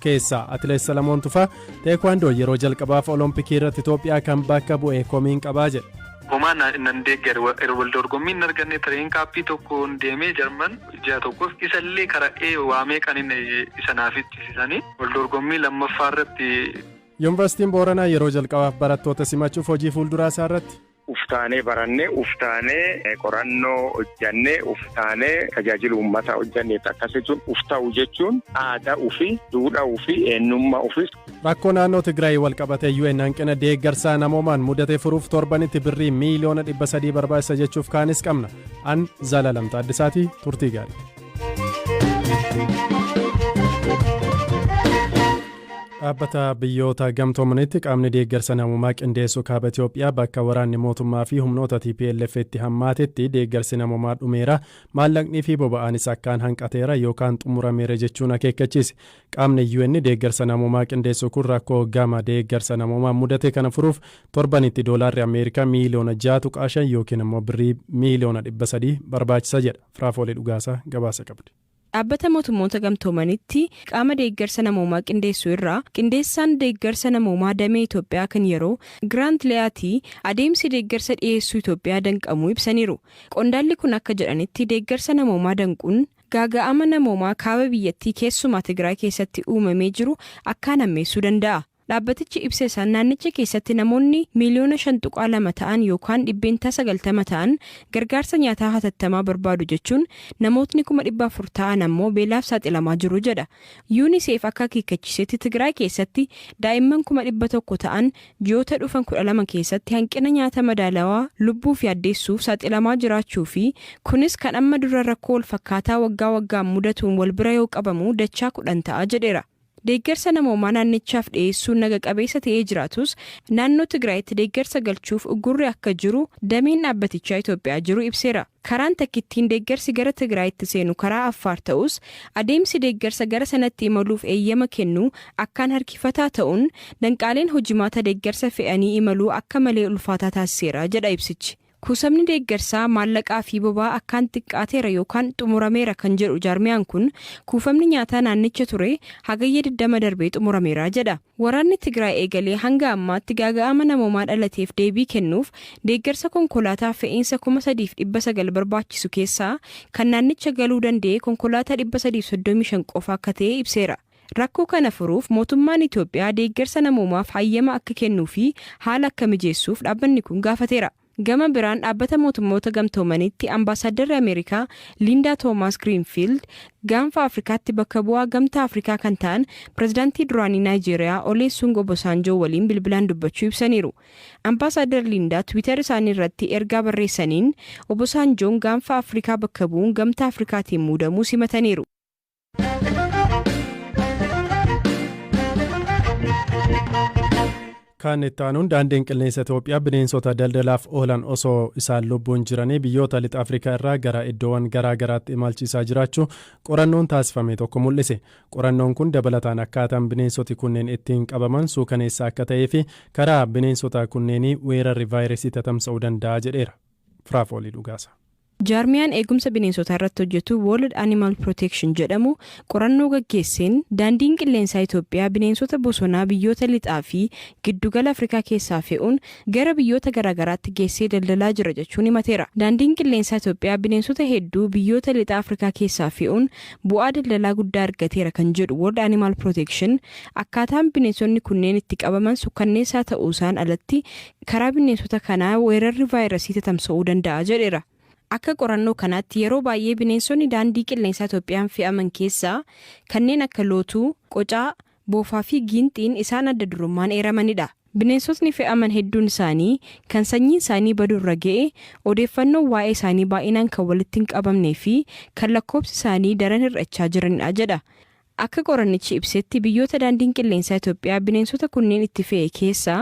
keessaa atileet salamoon tufaa teekwaandoo yeroo jalqabaaf olompikii irratti itoophiyaa kan bakka bu'e komiin qabaa jedhe. Homaa nan deeggare wal dorgommii hin arganne tireen kaappii tokkoon deemee jarman ji'a tokkoof isa illee kara'ee waa meeqan inni isa naaf ittisisanii wal dorgommii lammaffaa irratti. Yuunivarsiitiin Booranaa yeroo jalqabaaf barattoota simachuuf hojii fuulduraa isaa irratti. Uf taanee baranne, uf taanee qorannoo hojjanne, uf taanee tajaajila uummataa hojjanneetti akkas jechuun uf ta'u jechuun aadaa ufi, duudhaa ufi, eenyummaa ufi. Rakkoo naannoo Tigraay walqabatee UN hanqina deeggarsaa namoomaan mudate furuuf torbanitti birrii miiliyoona 300 barbaachisa jechuuf kaanis qabna. An Zalaalam Taaddasaati turtii gaarii. Dhaabbata biyyoota gamtoomanitti qaamni deeggarsa namoomaa qindeessu kaaba Itoophiyaa bakka waraanni mootummaa fi humnoota TPLF itti hammaatetti deeggarsi namoomaa dhumeera maallaqnii fi boba'aanis akkaan hanqateera yookaan xumurameera jechuun akeekkachiise. Qaamni UN deeggarsa namoomaa qindeessu kun rakkoo gama deeggarsa namoomaa mudate kana furuuf torbanitti doolaarri Ameerikaa miiliyoona 6.5 yookiin immoo birrii miiliyoona 300 barbaachisa jedha. Firaafoolee Dhugaasaa gabaasa qabdi. Dhaabbata Mootummoota Gamtoomanitti qaama deeggarsa namoomaa qindeessu irraa qindeessaan deeggarsa namoomaa damee Itoophiyaa kan yeroo Giraant Liyaatii adeemsi deeggarsa dhiyeessuu Itoophiyaa danqamuu ibsaniiru. Qondaalli kun akka jedhanitti deeggarsa namoomaa danquun gaaga'ama namoomaa kaaba biyyattii keessumaa Tigraay keessatti uumamee jiru akkaan hammeessuu danda'a. Dhaabbatichi ibsesaan naannicha keessatti namoonni miiliyoona 5.2 ta'an yookaan dhibbeentaa 90 ta'an gargaarsa nyaataa hatattamaa barbaadu jechuun namootni kuma 400 ta'an ammoo beelaaf saaxilamaa jiru jedha. Unicef akka akeekkachiisetti Tigraay keessatti daa'imman kuma 100 ta'an ji'oota dhufan 12 keessatti hanqina nyaata madaalawaa lubbuuf yaaddeessuuf saaxilamaa jiraachuu fi kunis kan amma dura rakkoo walfakkaataa waggaa waggaan mudatuun walbira yoo qabamu dachaa 10 ta'a jedheera. Deeggarsa namoomaa naannichaaf dhiyeessuun naga qabeessa ta'ee jiraatus naannoo Tigraayitti deeggarsa galchuuf uggurri akka jiru dameen dhaabbatichaa Itoophiyaa jiru ibseera. Karaan takkittiin deeggarsi gara Tigraayitti seenu karaa Affaar ta'us adeemsi deeggarsa gara sanatti imaluuf eeyyama kennuu akkaan harkifataa ta'uun danqaaleen hojimaata deeggarsa fe'anii imaluu akka malee ulfaataa taasiseera jedha ibsichi. Kuusamni deeggarsaa maallaqaa fi boba'aa akkaan xiqqaateera yookaan xumurameera kan jedhu jaarmiyaan kun, kuufamni nyaataa naannicha ture Hagayya 20 darbe xumurameera jedha. Waraanni Tigraay eegalee hanga ammaatti gaaga'ama namoomaa dhalateef deebii kennuuf deeggarsa konkolaataa fe'iinsa 3,900 barbaachisu keessaa kan naannicha galuu danda'e konkolaataa 335 qofa akka ta'e ibseera. Rakkoo kana furuuf mootummaan Itoophiyaa deeggarsa namoomaaf hayyama akka kennuu fi haala akka mijeessuuf dhaabbanni kun gaafateera. Gama biraan Dhaabbata Mootummoota Gamtoomaniitti Ambaasaaddarri Ameerikaa Liindaa Toomaas Giriinfiild Gaanfa Afrikaatti bakka bu'aa Gamtaa Afrikaa kan ta'an Pirezidaantii duraanii Naayijeeriyaa Oleesuun Obosaanjoo waliin bilbilaan dubbachuu ibsaniiru. Ambaasaaddar Liindaa Twitter isaanii irratti ergaa barreessaniin Obosaanjoon Gaanfa Afrikaa bakka bu'uun Gamtaa Afrikaatiin muudamuu simataniiru. Kan itti aanuun daandiin qilleensa Itoophiyaa bineensota daldalaaf oolan osoo isaan lubbuun jiranii biyyoota lixa Afrikaa irraa gara iddoowwan garaa garaatti imalchiisaa jiraachuu qorannoon taasifame tokko mul'ise. Qorannoon kun dabalataan akkaataan bineensoti kunneen ittiin qabaman suukaneessaa akka ta'ee fi karaa bineensota kunneenii weerarri vaayirasii tatamsa'uu danda'a jedheera. Firaafoolii dhugaasa. Jaarmiyaan eegumsa bineensotaa irratti hojjetu World Animal Protection jedhamu qorannoo gaggeesseen Daandiin Qilleensaa Itoophiyaa bineensota bosonaa biyyoota Lixaa fi Giddu gala Afrikaa keessaa fe'uun gara biyyoota garaagaraatti geessee daldalaa jira jechuun himateera. Daandiin Qilleensaa Itoophiyaa bineensota hedduu biyyoota Lixa Afrikaa keessaa fe'uun bu'aa daldalaa guddaa argateera kan jedhu World Animal Protection, akkaataan bineensonni kunneen itti qabaman sukkanneessaa ta'uusaan alatti karaa bineensota kanaa weerarri vaayirasii tatamsa'uu danda'a jedheera. Akka qorannoo kanaatti yeroo baay'ee bineensonni daandii qilleensaa Itoophiyaan fe'aman keessaa kanneen akka lootuu, qocaa, boofaa fi giinxiin isaan adda durummaan eeramanidha. Bineensotni fe'aman hedduun isaanii kan sanyiin isaanii baduu irra ga'e, odeeffannoon waa'ee isaanii baay'inaan kan walitti hin qabamnee fi kan lakkoobsi isaanii daran hir'achaa jiranidha jedha. Akka qorannichi ibsetti biyyoota Daandiin Qilleensaa Itoophiyaa bineensota kunneen itti fe'e keessaa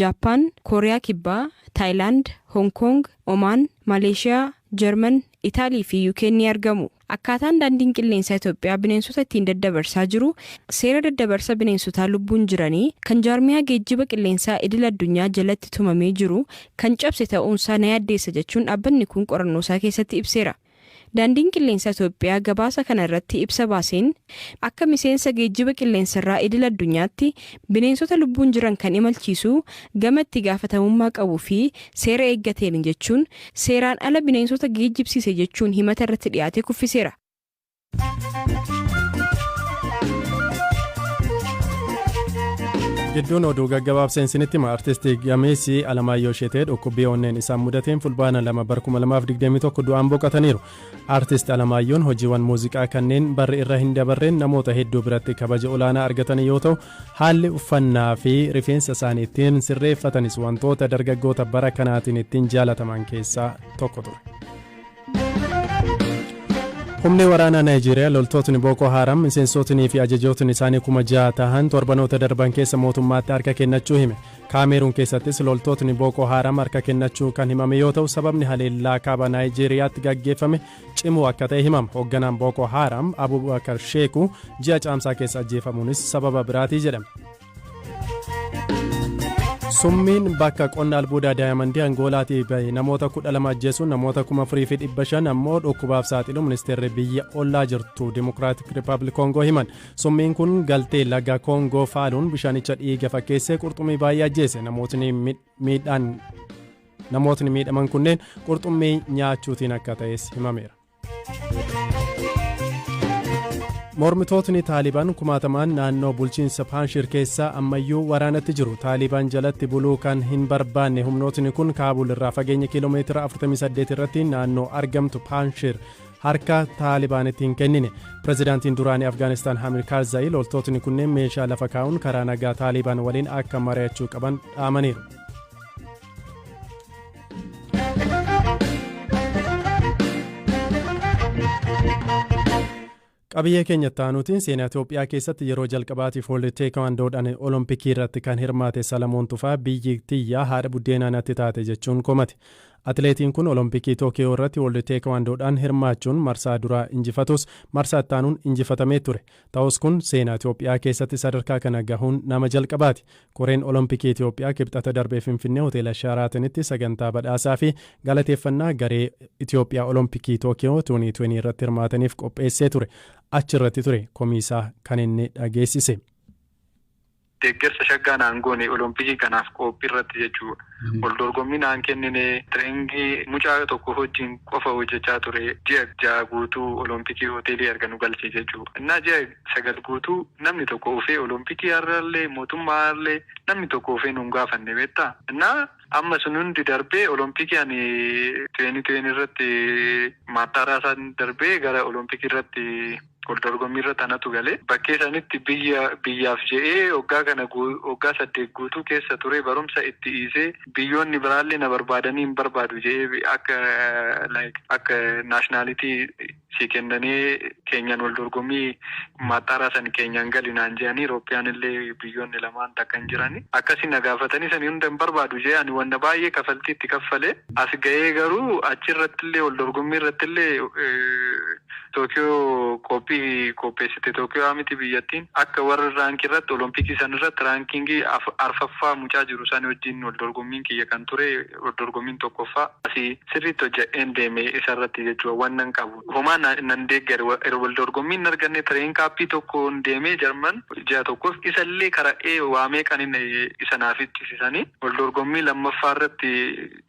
Jaappaan, Kooriyaa Kibbaa, Taayilaand, Hoong Koong, Omaan, Maleeshiyaa, Jarman, Itaalii fi UK'n ni argamu. Akkaataan Daandiin Qilleensaa Itoophiyaa bineensota ittiin daddabarsaa jiru seera daddabarsa bineensotaa lubbuun jiranii kan jaarmiyaa geejjiba qilleensaa idil addunyaa jalatti tumamee jiru kan cabse ta'uunsaa na yaaddeessa jechuun dhaabbanni kun qorannoosaa keessatti ibseera. Daandiin Qilleensa Itoophiyaa gabaasa kana irratti ibsa baaseen, akka miseensa geejjiba qilleensarraa idil addunyaatti bineensota lubbuun jiran kan imalchiisu gama itti gaafatamummaa qabuu fi seera eeggateeni jechuun seeraan ala bineensota geejjibsiise jechuun himata irratti dhiyaate kuffiseera. gidduun oduu gaggabaabseen sinitti hima artisti gameessi alamaayyoo sheetee dhukkubbii onneen isaan mudateen fulbaana lama bara 2021 du'aan boqataniiru artisti alamaayyoon hojiiwwan muuziqaa kanneen barri irra hin dabarreen namoota hedduu biratti kabaja olaanaa argatan yoo ta'u haalli uffannaa fi rifeensa isaanii ittiin sirreeffatanis wantoota dargaggoota bara kanaatiin ittiin jaalataman keessaa tokko ture. Humni waraanaa Naayijeeriyaa loltootni Bookoo Haaram miseensootnii fi ajajootni isaanii kuma jaha tahan torbanoota darban keessa mootummaatti harka kennachuu hime. Kaameeruun keessattis loltootni Bookoo Haaram harka kennachuun kan himame yoo ta'u sababni haleellaa kaaba Naayijeeriyaatti gaggeeffame cimuu akka ta'e himama. Hoogganaan Bookoo Haaram Abubakar Sheeku ji'a caamsaa keessa ajjeefamuunis sababa biraatii jedhame. Summiin bakka qonna albuudaa daayamandii Angoolaatii bahe namoota kudha lama ajjeesuun namoota kuma afurii fi dhibba shan ammoo dhukkubaaf saaxilu ministeerri biyya ollaa jirtu Dimokiraatik Rippaabilik Koongoo himan. Summiin kun galtee laga Koongoo faaluun bishaanicha dhiiga fakkeessee qurxummii baay'ee ajjeese namootni miidhaan namootni miidhaman kunneen qurxummii nyaachuutiin akka ta'es himameera. Mormitootni Taaliban kumaatamaan naannoo bulchiinsa Paanshir keessaa ammayyuu waraanatti jiru. Taaliban jalatti buluu kan hin barbaanne humnootni kun Kaabul irraa fageenya kiiloomeetira 48 irratti naannoo argamtu Paanshir harka Taalibaanitti hin kennine. Pirezidaantiin duraanii Afgaanistaan Hamid Karzaayi loltootni kunneen meeshaa lafa kaa'uun karaa nagaa Taaliban waliin akka mari'achuu qaban dhaamaniiru. Qabiyyee keenya taanuutiin seenaa Itoophiyaa keessatti yeroo jalqabaatiif wal teekwaandoodhaan olompikii irratti kan hirmaate Salamoon Tufaa biyyi tiyyaa haadha buddeenaa natti taate jechuun komate. Atileetiin kun olompikii Tookiyoo irratti wal teekwaandoodhaan hirmaachuun marsaa duraa injifatus marsaa ittaanuun injifatamee ture. Ta'us kun seenaa Itoophiyaa keessatti sadarkaa kana gahuun nama jalqabaati. Koreen Olompikii Itoophiyaa Kibxata darbe Finfinnee Hoteela Shaaraatanitti sagantaa badhaasaa fi galateeffannaa garee Itoophiyaa Olompikii Tookiyoo 2020 irratti hirmaataniif qopheessee ture achirratti ture komiisaa kan inni dhageessise. Deeggarsa shaggaa naan goone olompikii kanaaf qoophiirratti jechuu waldorgommii naan kennine training mucaa tokko hojjiin qofa hojjechaa ture ji'a ja'a guutuu olompikii hoteelii erga nu galchee jechuu ennaa ji'a sagal guutuu namni tokko ufee olompikii har'allee mootummaa har'allee namni tokko ufee nun gaafanne beektaa ennaa amma sun hundi darbee olompikii ani 2020 irratti maaxxaaraasaa darbee gara olompikiirratti waldorgommiirra tanatu gale. Bakkee sanitti biyya biyyaaf je'ee oggaa kana oggaa saddeet guutuu keessa turee barumsa itti iisee biyyoonni biraallee na barbaadanii hin barbaadu je'ee akka like akka nationality sii kennanee keenyaan waldorgommii maaxxaaraa san keenyaan gali naan je'anii Europeanillee biyyoonni lamaan takka hin jirani akkasi na gaafatanii sanii hunda hin barbaadu je'ee ani wanna baay'ee kafaltii itti kaffalee as gayee garuu achirrattillee waldorgommiirrattillee Tookiyoo qophii qopheessite Tookiyoo miti biyyattiin akka warri rank irratti olompikii san irratti ranking arfaffaa mucaa jiru sani wajjiin wal dorgommiin kiyya kan ture wal dorgommiin tokkoffaa asi sirriitti hojjadheen deeme isa irratti jechuu wannan qabu homaa nan deeggare wal dorgommii hin arganne train kaappii tokkoon deemee jarman ji'a tokkoof isa illee kara'ee waa meeqanin isa naa ficchisisanii wal dorgommii lammaffaa irratti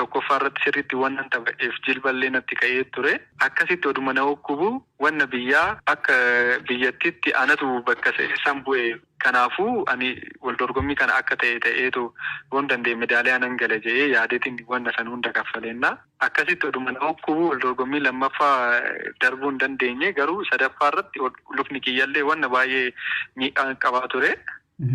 tokkoffaa irratti sirriitti wannan taphadheef jilba illee natti ka'ee turee. Akkasitti oduma na ukkubu wanna biyyaa akka biyyattitti anatu bakka san bu'e. Kanaafu ani waldorgommii kana akka ta'e ta'eetu yoon danda'e medaaliyaa nan gala je'ee yaadetin wanna san hunda kaffaleenna. Akkasitti oduma na ukkubu waldorgommii lammaffaa darbuu hin dandeenye garuu sadaffaa irratti lukni kiyyallee wanna baay'ee miidhaa qabaa ture.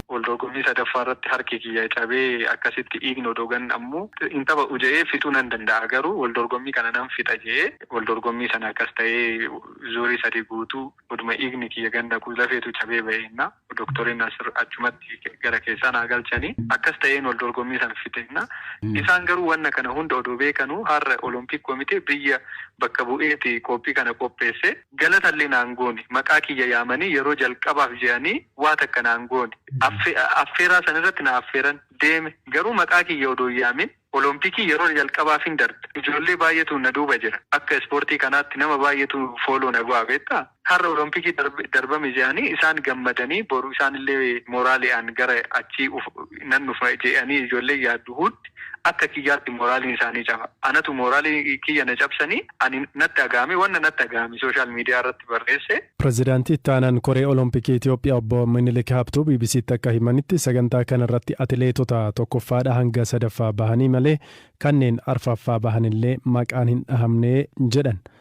Waldorgommii sadaffaa irratti harki kiyya cabee akkasitti dhiigni odoo gad nammu hin taphadhu jedhee fixuu nan danda'a garuu waldorgommii kana nan fixa jedhee waldorgommii sana akkas ta'ee zuurii sadii guutuu oduma dhiigni kiyya gad naquu lafeetu cabee ba'e jenna doktoriin Nasir achumatti gara keessaa naa galchanii akkas ta'een waldorgommii sana fixe jenna isaan garuu wanna kana hunda odoo beekanuu har'a olompiik komitee biyya bakka bu'eeti qoophii kana qopheesse galatallee naan goone maqaa kiyya yaamanii yeroo jalqabaaf jedhanii Waa takka naan goone. Affeeraa san irratti na affeeran. Deeme. Garuu maqaa kiyya odoo hin yaamin Olompikii yeroo jalqabaafin darbe. Ijoollee baay'eetu na duuba jira. Akka ispoortii kanaatti nama baay'eetu follow na godha beektaa. Har'a Olompikii darbame je'anii isaan gammadanii boru isaanillee moraali'aan gara achii nan dhufa je'anii ijoolleen yaaddu huudd. Akka kiyyaatti moraaliin isaanii caba. Anatu moraalii kiyya na cabsanii ani natti dhagahame wanna natti dhagahame social media irratti barreesse. Pirezidaantii Itti Aanaan Koree Olompikii Itiyoophiyaa Obbo Minilik Habtuu BBC'tti akka himanitti, sagantaa kanarratti atileetota tokkoffaadhaa hanga sadaffaa bahanii malee kanneen arfaffaa bahanillee maqaan hin dhahamne jedhan.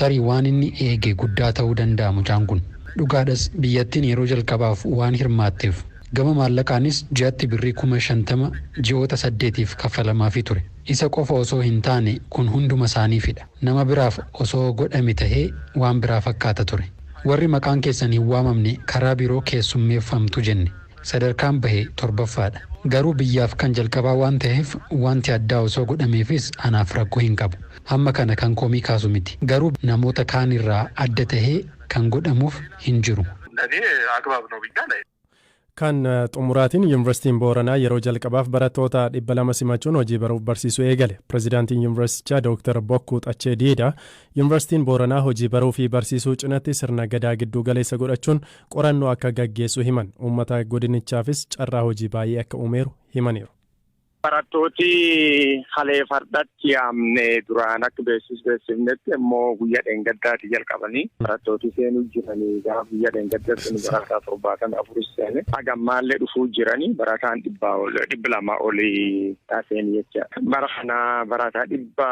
Tarii waan inni eege guddaa ta'uu danda'a mucaan kun. Dhugaadhas biyyattiin yeroo jalqabaaf waan hirmaatteef. Gama maallaqaanis ji'atti birrii kuma shantama ji'oota saddeetiif kaffalamaafii ture. Isa qofa osoo hin taane kun hunduma isaaniifidha. Nama biraaf osoo godhame ta'ee waan biraa fakkaata ture. Warri maqaan keessan hin waamamne karaa biroo keessummeeffamtu jenne. Sadarkaan bahe torbaffaadha. Garuu biyyaaf kan jalqabaa waan ta'eef wanti addaa osoo godhameefis anaaf rakkoo hin qabu. Hamma kana kan komii kaasu miti. Garuu namoota kaan irraa adda tahee kan godhamuuf hin jiru. Kan xumuraatiin Yuunivarsiitiin Booranaa yeroo jalqabaaf barattoota 200 simachuun hojii baruuf barsiisuu eegale. Pirezidaantiin Yuunivarsiitichaa Dooktar Bokkuu Xachee Diidaa Yuunivarsiitiin Booranaa hojii baruu fi barsiisuu cinatti sirna Gadaa gidduu galeessa godhachuun qorannoo akka gaggeessu himan. Uummata godinichaafis carraa hojii baay'ee akka uumeeru himaniiru. Barattooti kalee fardatti yaamne duraan akka beeksisi beeksifnetti immoo guyyaa dheengaddaati jalqabanii barattooti seenuu jiranii gaafa guyyaa dheengaddatti nu barataa torbaatama afuris seene haga ammaallee dhufuu jiranii barataan dhibbaa ol dhibbi lama olii taaseen jecha bara kanaa barataa dhibba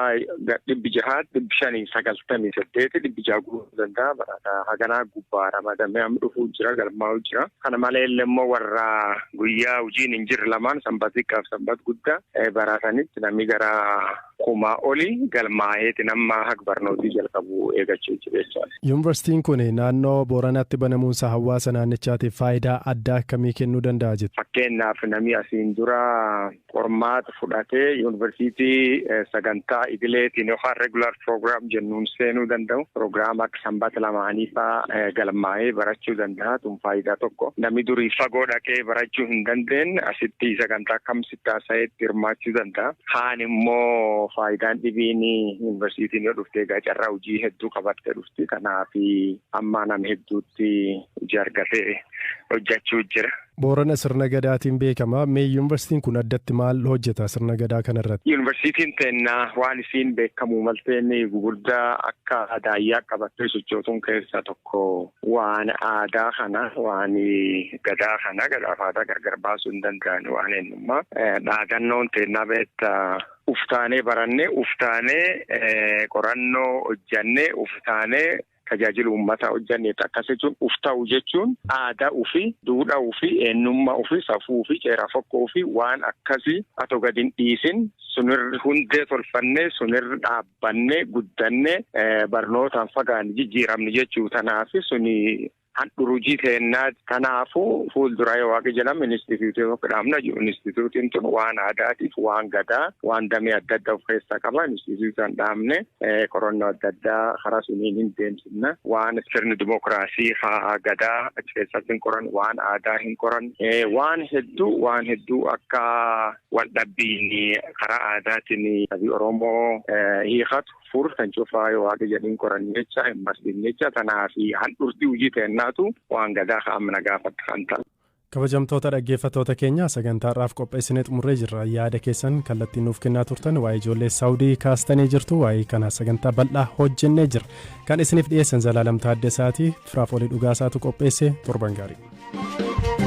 dhibbi jahaa dhibbi shanii sagaltamii saddeeti dhibbi jaha guutuu danda'a barataa haganaa gubbaa ramadamee amma dhufuu jira galmaa'uu jira. Kana maleellee immoo warra guyyaa hojiin hin jirre lamaan sanbat xiqqaaf sanbat guddaa baraa sanitti namni gara kumaa oli galmaa'eetiin amma haq barnootii jalqabu eegachuu jiru jechaadha. Yuunivarsiitiin kun naannoo Booranaatti banamuunsa hawaasa naannichaatiif faayidaa addaa akkamii kennuu danda'a jetta? Fakkeenyaaf namni asiin dura Qormaata fudhatee yuunivarsiitii sagantaa idileetiin yookaan regular program jennuun seenuu danda'u. Program akka sanbata lamaanii fa'aa galmaa'ee barachuu danda'a. Tun faayidaa tokko. Namni durii fagoo dhaqee barachuu hin dandeenye asitti sagantaa kam sitti haasa'eetti hirmaachuu danda'a. Kaan immoo faayidaan dhibiin yuunivarsiitiin yoo dhufte egaa carraa hojii hedduu qabattee dhufti. Kanaaf ammaa nama hedduutti hojii argatee hojjechuu jira. Boorana sirna Gadaatiin beekama. Mee Yuunivarsiitiin kun addatti maal hojjeta sirna Gadaa kana irratti? Yuunivarsiitiin teenna waan isiin beekkamuu maltee inni gugurdaa akka daayyaa qabattee sochootuun keessaa tokko waan aadaa kana waan Gadaa kana Gadaaf aadaa gargar baasuu hin danda'ani waan eenyummaa dhaadannoon teennaa beetta uftaanee barannee uftaanee qorannoo hojjannee uftaanee Tajaajila uummataa hojjanneetti akkas jechuun uf ta'u jechuun aadaa ufii, duudhaa ufii, eennummaa ufii, safuu ufii, ceeraa fokkoo ufii waan akkasii ato gad hin dhiisin sun irra hundee tolfannee sun irra dhaabbannee guddannee barnootaan fagaanne jijjiiramne jechuu. Tanaafi suni handhurujii teennaati. Kanaafuu fuulduraa yoo Waaqi jedhame inistitiyuutii tokko dhaabna jedhu. Inistitiyuutiin tun waan aadaatiif, waan gadaa, waan damee adda addaa of keessaa qaba. Inistitiyuutii san dhaabne qorannoo adda addaa karaa suniin hin deemsifna. Waan sirni dimokiraasii ka gadaa achi keessatti hin qoran, waan aadaa hin qoran. Waan hedduu waan hedduu akka waldhabbiin karaa aadaatiin sabi Oromoo hiikatu. fur kan cufaa yoo waaqa jedhin qoran jecha hin barsiin jecha tanaa fi handhurtii hojii ta'ennaatu waan gadaa ka'amna gaafadha kan ta'u. Kabajamtoota dhaggeeffattoota keenya sagantaarraaf qopheessinee xumurree jirra yaada keessan kallattiin nuuf kennaa turtan waa'ee ijoollee saawudii kaastanii jirtu waa'ee kana sagantaa bal'aa hojjennee jira kan isiniif dhiyeessan zalaalam taaddesaati firaaf olii dhugaasaatu qopheesse torban gaarii.